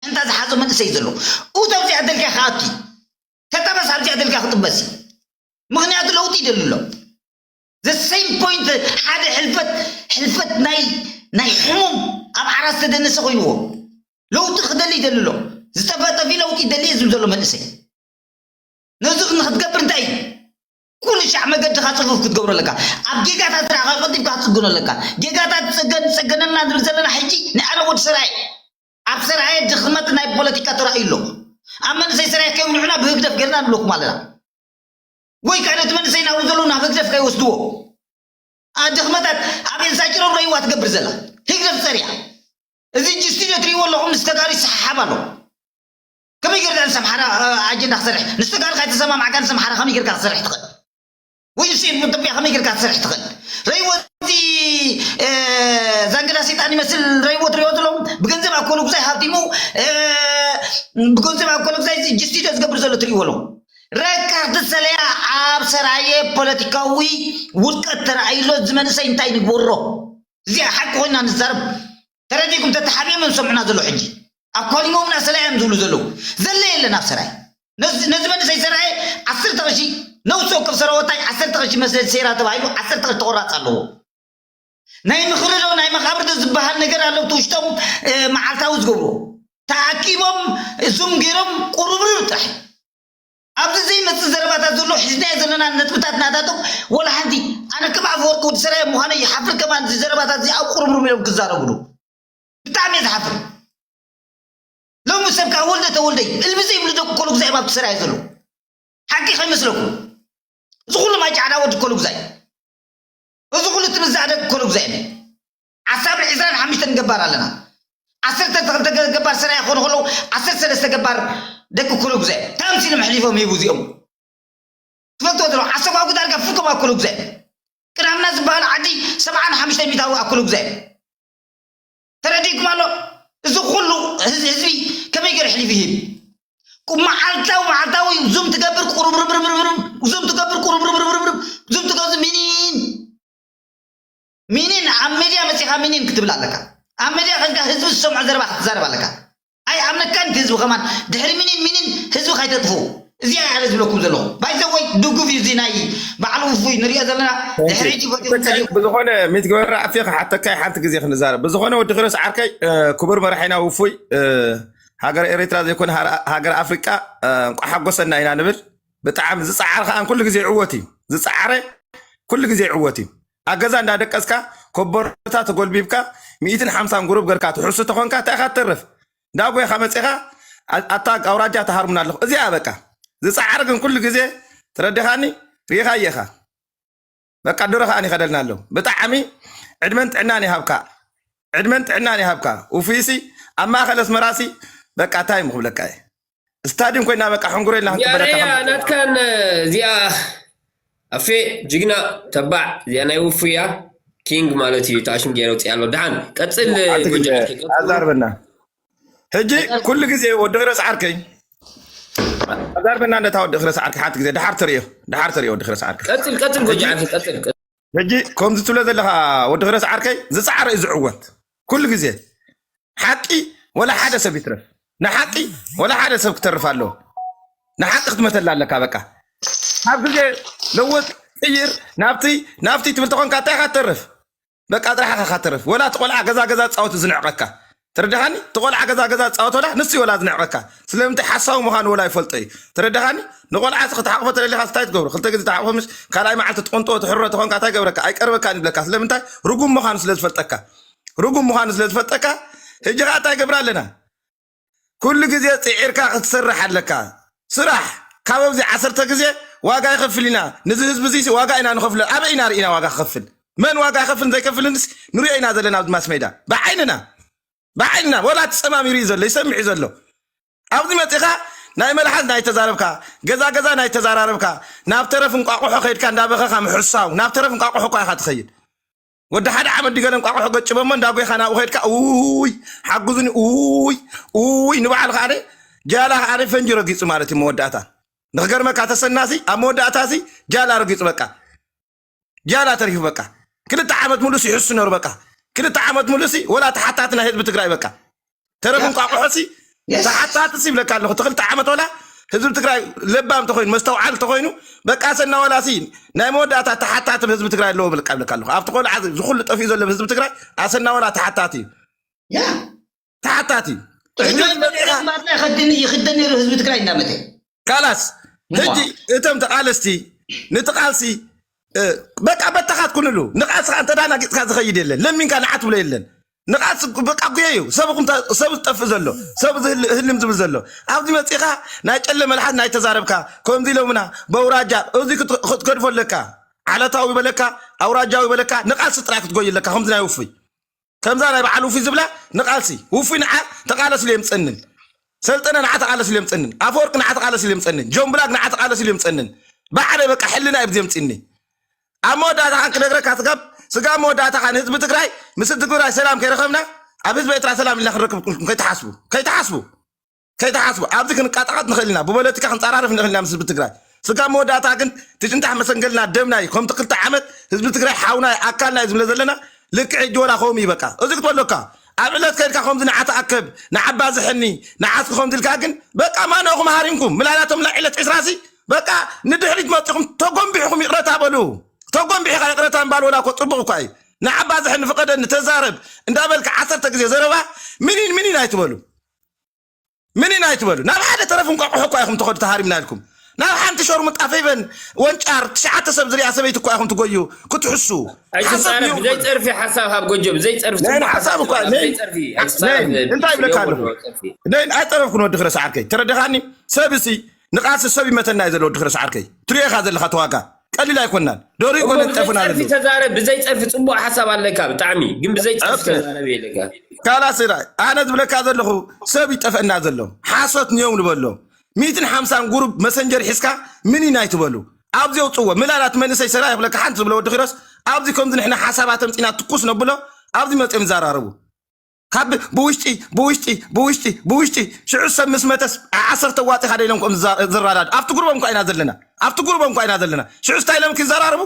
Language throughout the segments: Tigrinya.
እንታ ዝሓዞ መንእሰይ ዘሎ ኡት ኣብዚኣ ደልካ ክኣቱ እዩ ተጠበስ ኣብዚኣ ደልካ ክጥበስ እዩ ምክንያቱ ለውጢ ይደሊ ኣሎ the same point ሓደ ሕልፈት ሕልፈት ናይ ናይ ሕሙም ኣብ ዓራት ዝተደነሰ ኮይንዎ ለውጢ ክደሊ ይደሊ ኣሎ ዝተፈጠፊ ለውጢ ይደሊ ዝብል ዘሎ መንእሰይ ነዚ ንክትገብር እንታይ እዩ ኩሉ ሻዕ መገድኻ ፅፉፍ ክትገብሮ ኣለካ ኣብ ጌጋታት ዝረእኻ ቆጢብካ ክትፅግኖ ኣለካ ጌጋታት ፀገን ፀገነልና ንብል ዘለና ሕጂ ናይ ኣነ ወዲ ሰራየ ኣብ ሰራየ ድኽመት ናይ ፖለቲካ ተራእዩ ኣሎ። ኣብ መንእሰይ ሰራየ ከይውልዑና ብህግደፍ ጌርና ንብለኩም ኣለና። ወይ ከኣ ነቲ መንእሰይ ናብኡ ዘለዉ ናብ ህግደፍ ከይወስድዎ። ኣህ ድኽመታት ኣብ ኤልሳ ጭሮም ረይዋ ትገብር ዘላ ህግደፍ ጸርያ። እዚ ጅስቲድዮ ትርእይዎ ኣለኹም ምስ ተጋሩ ይሰሓሓብ ኣሎ። ከመይ ጌርካ ምስ ኣምሓራ ኣጀንዳ ክሰርሕ ምስ ተጋሩ ካይተሰማማዕካ ምስ ኣምሓራ ከመይ ጌርካ ክትሰርሕ ትኽእል። ውይ እሱ ኢትዮጵያ ከመይ ጌርካ ትሰርሕ ትኽእል ረይዎ እቲ ዛንገዳ ሰይጣን ይመስል ረይዎ ትሪኦ ዘለኹም ብገንዘብ ኣኮሉ ጉዛይ ሃብቲሙ ብገንዘብ ኣኮሉ ጉዛይ ጅስቲዶ ዝገብር ዘሎ ትሪእዎ ኣለኹም ረካርት ሰለያ ኣብ ሰራየ ፖለቲካዊ ውድቀት ተረኣይሎ እዚ መንእሰይ እንታይ ንግበሮ እዚኣ ሓቂ ኮይና ንዛረብ ተረዲእኩም ተተሓቢኦም እዮም ዝሰምዑና ዘለዉ ሕጂ ኣብ ኳሊሞምና ሰላያ እዮም ዝብሉ ዘለዉ ዘለ የለን ኣብ ሰራይ ነዚ ነዚ መንእሰይ ሰራየ ዓሰርተ ቅርሺ ነውሲ ወከፍ ሰራወታይ ዓሰርተ ቅርሺ መስለል ሴራ ተባሂሉ ዓሰርተ ቅርሺ ተቆራፅ ኣለዎ ናይ ምኽሪ ዶ ናይ መቃብር ዶ ዝበሃል ነገር ኣሎ እቲ ውሽጦም መዓልታዊ ዝገብርዎ ተኣኪቦም እዞም ገይሮም ቁርብርብ ጥራሕ ኣብዚ ዘይመጽእ ዘረባታት ዘሎ ሒዝናዮ ዘለና ነጥብታት ናታቶም ወላ ሓንቲ ኣነ ከም ኣፈወርቂ ወዲ ሰራየ ምዃነይ ይሓፍር ከማን እዚ ዘረባታት እዚ ኣብ ቁርምሩም ኢሎም ክዛረብሉ ብጣዕሚ እየ ዝሓፍር ሎሚ ሰብ ከዓ ወልደ ተወልደይ እልቢ ዘይብሉ ደቂ ኮልጉዛይ ኣብቲ ሰራየ ዘሎ ሓቂ ከይመስለኩም እዚ ኩሉ ማይ ጫዕዳ ወዲ ኮልጉዛይ እዚ ኩሉ ትምዛዕ ደቂ ኮልጉዛይ ዓሳብ ዕስራን ሓምሽተን ገባር ኣለና። ዓሰርተ ክልተ ገባር ሰራየ ክኾኑ ከለዉ ዓሰርተ ሰለስተ ገባር ደቂ ኩሉግዘ ከምዚ ኢሎም ኣሕሊፎም ሂቡ እዚኦም ትፈልጥዎ ዘሎ ዓሰጓጉ ዳርጋ ፍቶም ኣብ ኩሉግዘ ቅዳምና ዝበሃል ዓዲ ሰብዓን ሓምሽተ ሚታዊ ኣብ ኩሉግዘ ተረዲእኩም ኣሎ እዚ ኩሉ ህዝቢ ከመይ ገይሩ ኣሕሊፉ ይህብ መዓልታዊ መዓልታዊ ዙም ትገብር ቁርብርብርብርብርብ ዙም ትገብር ቁርብርብርብርብርብ ዙም ትገብር ምኒን ሚኒን ኣብ መድያ መጺኻ ሚኒን ክትብል ኣለካ ኣብ መድያ ከንካ ህዝቢ ዝሰምዖ ዘረባ ክትዛረብ ኣለካ ኣይ ኣምነካን እቲ ህዝቢ ከማን ድሕሪ ሚኒን ሚኒን ህዝቢ ካይተጥፉ እዚ ኣይ ኣነ ዝብለኩም ዘለኹ ባይዘወይ ድጉፍ እዩ እዚ ናይ በዓል ውፉይ ንሪኦ ዘለና ድሕሪ ሕጂ ፈትኹም ጸሊኹም ብዝኾነ ሚት ግበራ ኣፌ ክሓተካ ሓንቲ ግዜ ክንዛረብ ብዝኾነ ወዲ ኪሮስ ዓርከይ ክቡር መራሒና ውፉይ ሃገር ኤሪትራ ዘይኮነ ሃገር ኣፍሪቃ እንቋ ሓጎሰና ኢና ንብል ብጣዕሚ ዝፀዓር ከዓ ኩሉ ግዜ ይዕወት እዩ ዝፀዓረ ኩሉ ግዜ ይዕወት እዩ ኣብ ገዛ እንዳደቀስካ ኮቦርታ ተጎልቢብካ ሚእትን ሓምሳን ጉሩብ ገርካ ትሕሱ ተኾንካ እንታይ ኢኻ ትተርፍ እንዳ ጎይኻ መጺኻ ኣታ ኣውራጃ ተሃርሙና ኣለኹ እዚኣ በቃ ዝጻዕር ግን ኩሉ ግዜ ተረዲኻኒ ሪኢኻ ኢኻ በቃ ድሮ ከኣ ይኸደልና ኣሎ ብጣዕሚ ዕድመን ጥዕናን ይሃብካ ዕድመን ጥዕናን ይሃብካ ውፉይሲ ኣብ ማእኸል ኣስመራሲ በቃ እንታይ ምክብለካ እየ ስታድዩም ኮይና በቃ ሕንጉረ ኢልና ክንቅበለካ ያሬያ ከም ናትካን እዚኣ ኣፌ ጅግና ተባዕ እዚኣ ናይ ውፉያ ኪንግ ማለት እዩ ተኣሽም ገይረ ውፅእ ኣሎ ድሓን ቀፅል ሓንቲ ግዜ ጎጃም ከይገፅሉ ኣዛርበና ሕጂ ቀፃል ኩሉ ግዜ ወዲ ክረ ሰዓርከይ ኣዛርበና ነታ ወዲ ክረ ሰዓርከይ ሓንቲ ግዜ ድሓር ትሪኦ ድሓር ትሪኦ ወዲ ክረ ሰዓርከይ ቀፅል ቀፅል ሕጂ ጎጃም ቀፅል ቀፅል ሕጂ ከምዚ ትብሎ ዘለኻ ወዲ ክረስ ዓርከይ ዝፀዓረ እዩ ዝዕወት ኩሉ ግዜ ሓቂ ወላ ሓደ ሰብ ይትረፍ ንሓቂ ወላ ሓደ ሰብ ክተርፍ ኣለዎ ንሓቂ ክትመተላ ኣለካ በቃ ኣብ ግዜ ለወጥ ቅይር ናብቲ ናብቲ ትብል ተኾንካ እንታይ ኢኻ ትተርፍ በቃ ጥራሕ ኢኻ ትተርፍ ወላ እቲ ቆልዓ ገዛ ገዛ ዝፃወት ዝንዕቐካ ተረዳኻኒ እቲ ቆልዓ ገዛ ገዛ ዝፃወት ወላ ንሱ እዩ ወላ ዝንዕቀካ ስለምንታይ ሓሳዊ ምዃኑ ወላ ይፈልጦ እዩ ተረዳኻኒ ንቆልዓ እዚ ክትሓቕፎ ተደሊኻስ እንታይ ትገብሮ ክልተ ግዜ ትሓቕፎ ምሽ ካልኣይ መዓልቲ ትቕንጥዎ ትሕሮ ተኾንካ እንታይ ገብረካ ኣይቀርበካን ይብለካ ስለምንታይ ርጉም ምዃኑ ስለ ዝፈልጠካ ርጉም ምዃኑ ስለ ዝፈልጠካ ሕጂ ከዓ እንታይ ገብራ ኣለና ኩሉ ግዜ ፅዒርካ ክትሰርሕ ኣለካ ስራሕ ካብ ኣብዚ ዓሰርተ ግዜ ዋጋ ይኸፍል ኢና ንዚ ህዝቢ እዚሲ ዋጋ ኢና ንኸፍሎ ኣበይ ኢና ርኢና ዋጋ ክኸፍል መን ዋጋ ይኸፍልን ዘይከፍልንስ ንሪኦ ኢና ዘለና ኣብዚ ማስሜዳ ብዓይንና ብዓይንና ወላ እቲ ጸማም ይርኢ ዘሎ ይሰምዕ እዩ ዘሎ ኣብዚ መጺኻ ናይ መልሓስ ናይ ተዛረብካ ገዛ ገዛ ናይ ተዛራረብካ ናብ ተረፍ እንቋቑሖ ከይድካ እንዳበኸኻ ምሕሳው ናብ ተረፍ እንቋቑሖ እኳ ኢኻ ትኸይድ ወዲ ሓደ ዓመት ድገለ እንቋቑሖ ገጭበሞ እንዳጎይኻ ናብኡ ከድካ ውይ ሓግዙኒ ውይ ውይ ንበዓል ከዓ ጃላ ከዓ ፈንጂ ረጊፁ ማለት እዩ መወዳእታ ንክገርመካ ተሰናሲ ኣብ መወዳእታ እዚ ጃላ ረጊፁ በቃ ጃላ ተሪፉ በቃ ክልተ ዓመት ሙሉእ ይሕሱ ነሩ በቃ ክልተ ዓመት ሙሉእ ወላ ተሓታቲ ናይ ህዝቢ ትግራይ በቃ ተረፍ ያ እንቋቑሖ ሲ የስ ተሓታቲ ሲ ይብለካ ኣለኹ እቲ ክልተ ዓመት ወላ ህዝቢ ትግራይ ለባም እንተኮይኑ መስተውዓል እንተኮይኑ በቃ ሰና ወላ ሲ ናይ መወዳእታ ተሓታቲ ብ ህዝቢ ትግራይ ኣለዎ ብልቃ ይብለካ ኣለኹ ኣብቲ ቆልዓ እዚ ኩሉ ጠፊኡ ዘሎ ብ ህዝቢ ትግራይ ኣሰና ወላ ተሓታቲ እዩ ያ ተሓታቲ እዩ ሕጂ ሕቶይ እውን መሪሕነት መፂኻ ማርና ይኸድን ይኽደን ነይሩ ህዝቢ ትግራይ እንዳመተ ካላስ ሕጂ እቶም ተቃለስቲ ነቲ ቃልሲ በቃ በተኻት ኩንሉ ንቃልስኻ እንተ ናጊፅካ ዝኸይድ የለን ለሚንካ ንዓት ብሎ የለን ንቃልሲ በቃ ጉየ እዩ ሰብ ዝጠፍእ ዘሎ ሰብ ህልም ዝብል ዘሎ ኣብዚ መፂኻ ናይ ጨለ መልሓት ናይ ተዛረብካ ከምዚ ኢሎምና በውራጃ እዚ ክትገድፎ ኣለካ ዓለታዊ በለካ ኣውራጃዊ በለካ ንቃልሲ ጥራይ ክትጎይ ኣለካ ከምዚ ናይ ውፉይ ከምዛ ናይ በዓል ውፊ ዝብላ ንቃልሲ ውፊ ንዓ ተቃለስ ኢሉ የምፀንን ሰልጠነ ንዓ ተቃለስ ኢሉ የምፀንን ኣፈወርቂ ንዓ ተቃለስ ኢሉ የምፀንን ጆን ብላክ ንዓ ተቃለስ ኢሉ የምፀንን ባዕለይ በቃ ሕልና እዩ ብዚ የምፅኒ ኣብ መወዳእታ ካን ክነግረካ ስጋብ ስጋብ መወዳእታ ካን ህዝቢ ትግራይ ምስ ህዝቢ ትግራይ ሰላም ከይረኸብና ኣብ ህዝቢ ኤርትራ ሰላም ኢልና ክንረክብ ኢልኩም ከይትሓስቡ ከይትሓስቡ ከይትሓስቡ ኣብዚ ክንቃጣቐጥ ንኽእል ኢና ብፖለቲካ ክንፀራረፍ ንኽእል ኢና ምስ ህዝቢ ትግራይ ስጋ መወዳእታ ግን ትጭንጣሕ መሰንገልና ደምና እዩ ከምቲ ክልተ ዓመት ህዝቢ ትግራይ ሓውና እዩ ኣካልና እዩ ዝብለ ዘለና ልክዕ ሕጂ ወላ ከምኡ እዩ በቃ እዚ ክትበለካ ኣብ ዕለት ከድካ ከምዚ ንዓ ተኣከብ ንዓባ ዝሕኒ ንዓስኪ ከምዚ ኢልካ ግን በቃ ማነኹም ሃሪምኩም ምላላቶም ናይ ዕለት ዕስራ ሲ በቃ ንድሕሪት መፂኹም ተጎንቢሕኹም ይቕረታ በሉ ተጎንቢሕኻ ይቕረታ ምባል ወላ እኮ ፅቡቕ እኳ እዩ ንዓባ ዝሕኒ ፍቐደኒ ተዛረብ እንዳበልካ ዓሰርተ ግዜ ዘረባ ምኒን ምኒን ኣይትበሉ ምን ኢና ኣይትበሉ ናብ ሓደ ተረፍ እንቋቑሖ እኳ ኢኹም ትኸዱ ተሃሪምና ኢልኩም ናብ ሓንቲ ሸርሙጣ ፌቨን ወንጫር ትሽዓተ ሰብ ዝርያ ሰበይቲ እኳ ኢኹም ትጎዩ ክትሕሱ ኣይትጻረፍ ብዘይ ጸርፊ ሓሳብ ሃብ ጎጆ ብዘይ ጸርፊ ጽቡቕ ሓሳብ እኳ ብዘይ ጸርፊ ኣይትጻረፍ እንታይ ይብለካ ኣለኹ ነይን ኣይጠረፍኩን ወዲ ክረስ ዓርከይ ተረደኻኒ ሰብሲ ንቓልሲ ሰብ ይመተና እዩ ዘሎ ወዲ ክረስ ዓርከይ ትሪኦ ኢኻ ዘለኻ ተዋጋ ቀሊል ኣይኮናን ዶሪ እሞ ኮነን ብዘይ ጤፍና ፀርፊ ዘሎ ተዛረብ ብዘይ ፀርፊ ፅቡቅ ሓሳብ ኣለካ ብጣዕሚ ግን ብዘይ ፀርፊ ኦኬ ተዛረብ የለካ ካላስ ራ ኣነ ዝብለካ ዘለኹ ሰብ ይጠፈእና ዘሎ ሓሶት ንየው ንበሎ ሚትን ሓምሳን ጉሩብ መሰንጀር ሒዝካ ምኒን ኣይትበሉ ኣብዚ የውፅዎ ምላላት መንእሰይ ሰላ ይኽለካ ሓንቲ ዝብለ ወዲ ኪሮስ ኣብዚ ከምዚ ንሕና ሓሳባት ኣምፂና ትኩስ ነብሎ ኣብዚ መፅኦም ይዘራረቡ ካብ ብውሽጢ ብውሽጢ ብውሽጢ ብውሽጢ ሽዑ ሰብ ምስ መተስ ዓሰርተ ዋጢ ሓደ ኢሎም ከም ዝዛ- ዝራዳዱ ኣብቲ ጉርቦም እኳ ኢና ዘለና ኣብቲ ጉርቦም እኳ ኢና ዘለና ሽዑ ስታይ ኢሎም ክዘራርቡ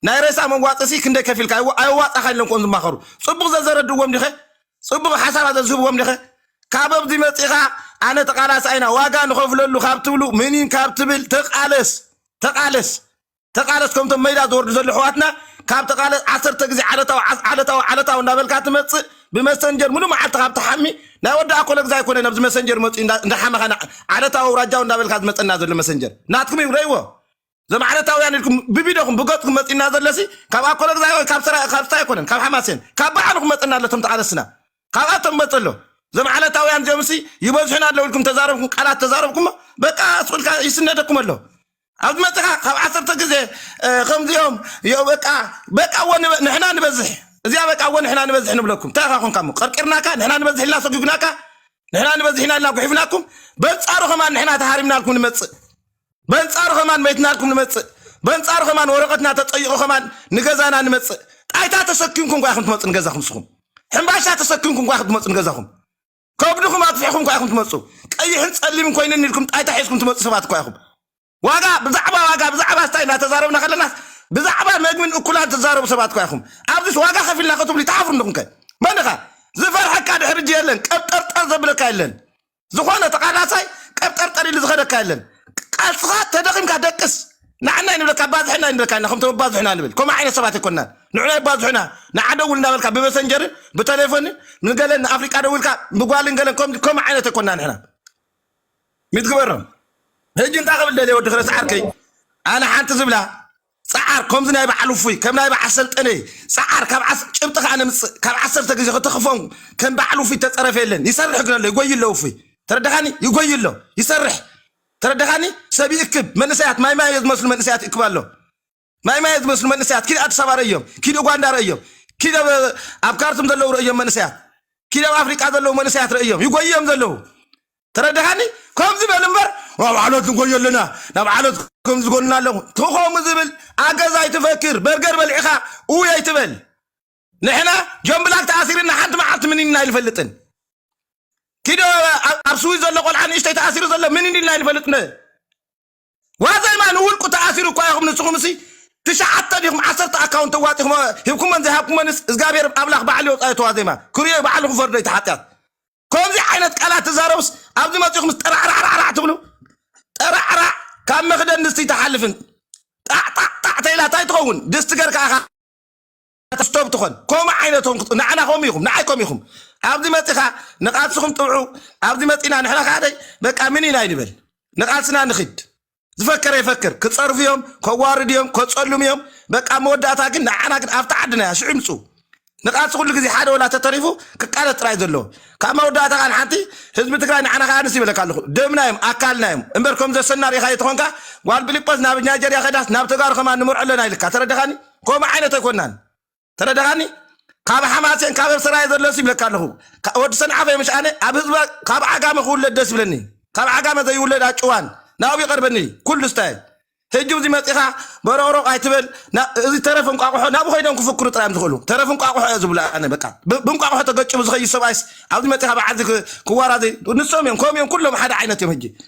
ናይ ሬሳ መዋፅሲ ክንደይ ከፊልካ ኣይዋ- ኣየዋፃኻ ኢሎም ከም ዝማኸሩ ፅቡቕ ዘዘረድዎም ዲኸ ፅቡቕ ሓሳባት ዘዝህብዎም ዲኸ ካብ ኣብዚ መፂኻ ኣነ ተቃላሳይ ኢና ዋጋ ንኸፍለሉ ካብ ትብሉ ምኒን ካብ ትብል ተቃለስ ተቃለስ ተቃለስ ከምቶም መይዳ ዝወርዱ ዘለዉ ኣሕዋትና ካብ ተቃለስ ዓሰርተ ግዜ ዓለታዊ ዓለታዊ ዓለታዊ እንዳበልካ ትመጽእ ብመሰንጀር ሙሉ መዓልቲ ካብ ትሓሚ ናይ ወዲ ኣኮለ ግዛ ኣይኮነ ኣብዚ መሰንጀር መጽኡ እንዳሓመኻ ዓለታዊ ኣውራጃዊ እንዳበልካ ዝመጸና ዘሎ መሰንጀር ናትኩም እዩ ረይዎ እዞም ዓለታውያን ኢልኩም ብቪድዮኹም ብገጽኩም መጺና ዘለሲ ካብ ኣኮለ ግዛ ወይ ካብ ሰራ ካብ ስታ ኣይኮነን ካብ ሓማሴን ካብ በዓልኹም መጸና ኣለቶም ተቃለስና ካብኣቶም መጸ ኣሎ እዞም ዓለታውያን እዚኦምሲ ይበዝሑን ኣለዉ ኢልኩም ተዛረብኩም ቃላት ተዛረብኩሞ በቃ ስቁልካ ይስነደኩም ኣሎ ኣብ ዝመጽኻ ካብ ዓሰርተ ግዜ ከምዚኦም ዮ በቃ በቃ ወ ንሕና ንበዝሕ እዚኣ በቃ ወ ንሕና ንበዝሕ ንብለኩም እንታይ ኢኻ ኮንካ እሞ ቀርቂርናካ ንሕና ንበዝሕ ኢልና ሰጒግናካ ንሕና ንበዝሕ ኢና ኢልና ጉሒፍናኩም በንጻሩ ከማን ንሕና ተሃሪምናልኩም ንመጽእ በንጻሩ ከማን መይትናልኩም ንመጽእ በንጻሩ ከማን ወረቐትና ተጠይቑ ከማን ንገዛና ንመጽእ ጣይታ ተሰኪምኩም ኳ ኢኹም ትመጽኡ ንገዛኹም ንስኹም ሕምባሻ ተሰኪምኩም ኳ ኢኹም ትመጽኡ ንገዛኹም ከብድኹም ኣትፊሕኹም እኳ ኢኹም ትመፁ ቀይሕን ፀሊምን ኮይነኒ ኢልኩም ጣይታ ሒዝኩም ትመፁ ሰባት እኳ ኢኹም ዋጋ ብዛዕባ ዋጋ ብዛዕባ ስታይ እናተዛረብና ከለና ብዛዕባ መግብን እኩላን ትዛረቡ ሰባት እኳ ኢኹም ኣብዚስ ዋጋ ከፊልና ከትብሉ ይተሓፍሩ እንደኹም ከ መን ኢኻ ዝፈርሐካ ድሕሪ እጅ የለን ቀብጠርጠር ዘብለካ የለን ዝኾነ ተቃላሳይ ቀብጠርጠር ኢሉ ዝኸደካ የለን ቃልስኻ ተደኺምካ ደቅስ ንዓና ይንብለካ ኣባዝሐና ይንብለካ ኢና ከምቶም ኣባዝሑና ንብል ከምኡ ዓይነት ሰባት ኣይኮናን ንዑና ይባዝሑና ንዓ ደውል እንዳበልካ ብመሰንጀርን ብተሌፎንን ንገለን ንኣፍሪቃ ደውልካ ብጓልን ገለን ከም- ከምኡ ዓይነት ኣይኮና ንሕና ሚትግበሮም ሕጂ እንታይ ክብል ደልየ ወዲ ክረስ ዓርከይ ኣነ ሓንቲ ዝብላ ጸዓር ከምዚ ናይ በዓል ውፉይ ከም ናይ በዓል ሰልጠነ ጸዓር ካብ ዓስ- ጭብጢ ከዓ ነምጽእ ካብ ዓሰርተ ግዜ ከተኽፎም ከም በዓል ውፉይ ተጸረፈ የለን ይሰርሕ ግን ኣሎ ይጎይ ኣሎ ውፉይ ተረዳኻኒ ይጎይ ኣሎ ይሰርሕ ተረዳኻኒ ሰብ ይእክብ መንእሰያት ማይ ማይ ዝመስሉ መንእሰያት ይእክብ ኣሎ ማይ ማይ ዝመስሉ መንእሰያት ኪድ ኣዲስ ኣበባ ረእዮም ኪድ ኡጋንዳ ረእዮም ኪድ ኣብ ካርቱም ዘለዉ ረእዮም መንእሰያት ኪድ ኣብ ኣፍሪቃ ዘለዉ መንእሰያት ረእዮም ይጎይዮም ዘለዉ ተረዳኻኒ ከምዚ በል እምበር ኣብ ዓሎት ንጎዮ ኣለና ናብ ዓሎት ከም ዝጎንና ኣለኹ ተኸምኡ ዝብል ኣገዛ ኣይትፈክር በርገር በልዒኻ እውይ ኣይትበል ንሕና ጆን ብላክ ተኣሲርና ሓንቲ መዓልቲ ምኒንና ኣይንፈልጥን ኪዶ ኣብ ስዊ ዘሎ ቆልዓ ንእሽተይ ተኣሲሩ ዘሎ ምኒን ኢልና ኣይንፈልጥን ዋዘማ ንውልቁ ተኣሲሩ እኳ ኢኹም ንስኹም እሲ ትሽዓተ ዲኹም ዓሰርተ ኣካውንት ተዋጢኹም ሂብኩመን ዘይሃብኩመንስ እግዚኣብሔር ኣምላኽ ባዕሉ የውፃዮ ተዋዜማ ክሪኦ ባዕሉ ክፈርዶ እቲ ሓጢኣት ከምዚ ዓይነት ቃላት ትዛረቡስ ኣብዚ መፂኹምስ ጠራዕራዕራዕ ትብሉ ጠራዕራዕ ካብ መኽደን ድስቲ ተሓልፍን ጣዕጣዕጣዕ ተኢላ እንታይ ትኸውን ድስቲ ገርካ ኢኻ ኣስቶብ ትኾን ከምኡ ዓይነቶም ክጥ- ንዓና ከምኡ ኢኹም ንዓይ ከምኡ ኢኹም ኣብዚ መፂኻ ንቓልስኹም ጥብዑ ኣብዚ መፂና ንሕና ካደይ በቃ ምን ኢና ይንበል ንቓልስና ንኽድ ዝፈከረ ይፈክር ክፀርፉ እዮም ከዋርድ እዮም ከፀሉም እዮም በቃ ኣብ መወዳእታ ግን ንዓና ግን ኣብቲ ዓድና እያ ሽዑ ይምፅኡ ንቓልሲ ኩሉ ግዜ ሓደ ወላ ተተሪፉ ክቃለስ ጥራይ ዘለዎ ካብ መወዳእታ ከዓ ንሓንቲ ህዝቢ ትግራይ ንዓና ከዓ ንስ ይበለካ ኣለኹ ደምና እዮም ኣካልና እዮም እምበር ከም ዘሰና ሪኢኻ የተኾንካ ጓል ፊልጶስ ናብ ናይጀርያ ከዳስ ናብ ተጋሩ ከማን ንምርዖ ኣለና ኢልካ ተረዳኻኒ ከምኡ ዓይነት ኣይኮናን ተረዳኻኒ ካብ ሓማሴን ካብ ሰራየ ዘለስ ይብለካ ኣለኹ ወዲ ሰንዓፈ ምሻኣነ ኣብ ህዝቢ ካብ ዓጋመ ክውለድ ደስ ይብለኒ ካብ ዓጋመ ዘይውለድ ኣጭዋን ናብኡ ይቐርበኒ ኩሉ ስታይ ሕጂ እዚ መፂኻ በሮቕሮቕ ኣይትበል እዚ ተረፍ እንቋቑሖ ናብ ኮይዶም ክፍክሩ ጥራዮም ዝኽእሉ ተረፍ እንቋቑሖ እየ ዝብሉ ኣነ በቃ ብእንቋቑሖ ተገጭቡ ዝኸይድ ሰብኣይስ ኣብዚ መፂኻ በዓልዚ ክዋራዘይ ንሶም እዮም ከምኡ እዮም ኩሎም ሓደ ዓይነት እዮም ሕጂ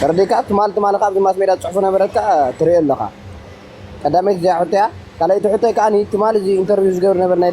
ተረዲካ ትማል ትማል ከኣ ኣብዚ ማስሜድያ ዝጽሕፉ ነበረትካ ትርእዮ ኣለኻ ቀዳመይቲ እዚኣ ሕቶያ ካልኣይቲ ሕቶይ ከኣ ትማል እዚ ኢንተርቪው ዝገብር ዝነበረ ናይ